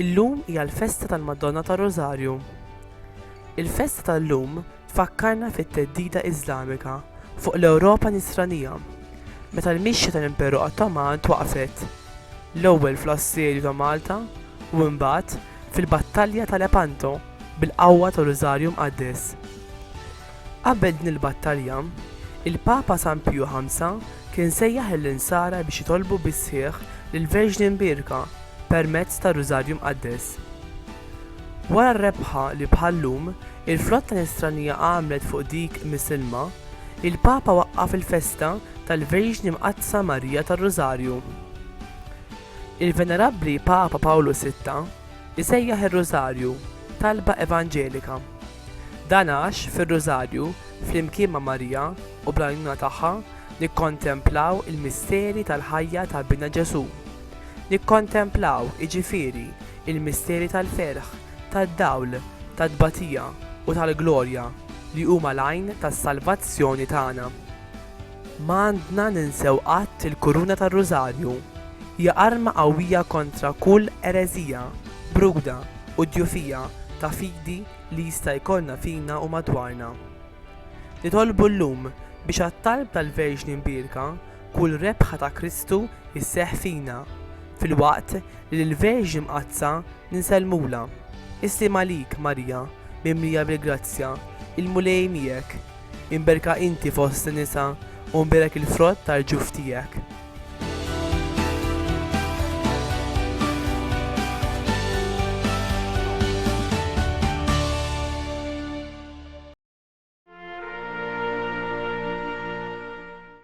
Illum hija l-festa tal-Madonna tar-Rożarju. Il-festa tal-lum Tfakkarna fit-theddida Iżlamika fuq l-Ewropa Nisranija, meta l-mixja tal-Imperu Ottoman twaqqfet, l-ewwel fl-Assedju ta' Malta u imbagħad fil-Battalja ta' Lepanto bil-qawwa tar-Rużarju Mqaddes. Qabel din il-battalja, il-Papa San Piju Ħamsa kien sejjaħ lill-Insara biex jitolbu bis-sħiħ lill-Verġni Mbierka permezz tar-Rużarju Mqaddes. Wara rebħa li bħal-lum, il-flotta Nisranija għamlet fuq dik Misilma, il-Papa waqqaf il-festa tal-Verġni Mqaddsa Marija tar-Rużarju. Il-Venerabbli Papa Pawlu Sitta jsejjaħ ir-Rużarju talba evanġelika. Dan għax fir-Rużarju, flimkien ma' Marija u bl-għajnuna tagħha, nikkontemplaw il-misteri tal-ħajja ta' Binna Ġesù. Nikkontemplaw, jiġifieri, il-misteri tal-ferħ, tad-dawl, tat-tbatija u tal-glorja li huma l-għajn tas-salvazzjoni tagħna. Ma għandna ninsew qatt il-kuruna tar-Rużarju. Hija arma qawwija kontra kull ereżija, bruda u djufija ta' fidi li jista' jkollna fina u madwarna. Nitolbu llum biex għat-talb tal-Verġni Mbierka Kull rebħa ta' Kristu sseħħ fina, filwaqt li lill-Verġni Mqaddsa ninsellmulha. Is-sliem għalik, Marija, mimlija bil-grazzja, il-Mulej miegħek! Imberka inti fost in-nisa u mbirak il-frott tal-ġuf tiegħek.